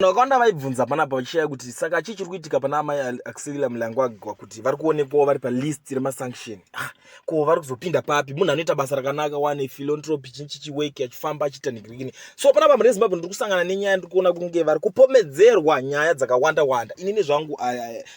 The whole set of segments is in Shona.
vakawanda vaibvunza panapa vachishaya kuti saka chii chiri kuitika pana amai axelia mulangwagwa kuti vari kuonekwawo vari palist remasanction ah, ko vari kuzopinda papi munhu anoita basa rakanaka wane philantropy chinyi chichiweki achifamba achiita nigirigini so panapa mune zimbabwe ndiri kusangana nenyaya ndiri kuona kunge vari kupomedzerwa nyaya dzakawanda wanda inini zvangu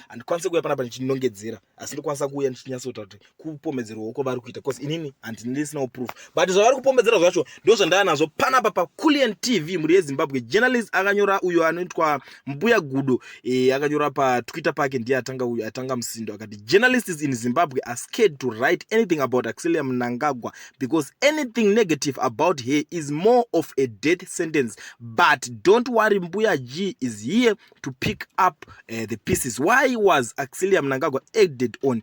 handikwanise kuuya panapa ndichinongedzera asi ndikwanisa kuuya ndichinyatsotaura kuti kupomedzerwa uko vari kuita bcause inini handindisinawo proof but zvavari kupomedzera zvacho ndo zvandava nazvo panapa paculian tv mhuri yezimbabwe journalist akanyora uyo anoitwa mbuya gudo e, akanyora patwitter pake ndiye atanga uyo atanga musindo akati journalists in zimbabwe are scared to write anything about axilia mnangagwa because anything negative about her is more of a death sentence but don't worry mbuya g is here to pick up uh, the pieces why was axilia mnangagwa acted on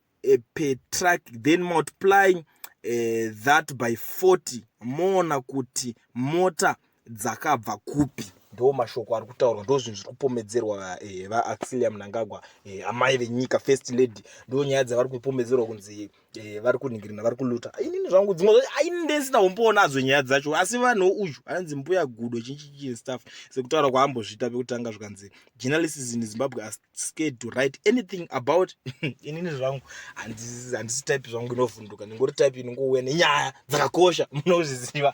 uh, per truck then multiplying uh, that by 40 moona kuti mota dzakabva kupi ndo mashoko ari kutaurwa ndo zvinhu zviri kupomedzerwa eh, vaaxilia munangagwa eh, amai venyika first lady ndo nyaya dzavari kupomedzerwa kunzi eh, vari kunhingirina vari kuluta inini zvangu dzimwe zvacho aini ndesina kumboonadzo nyaya dzacho asi vanhu uyu anonzi mbuya gudo chinchichii staff sekutaura kwaambozvita pekutanga zvikanzi journalists in zimbabwe are scared to write anything about inini zvangu handisi type zvangu inovhunduka ndingori type inongouya nenyaya dzakakosha munozviziva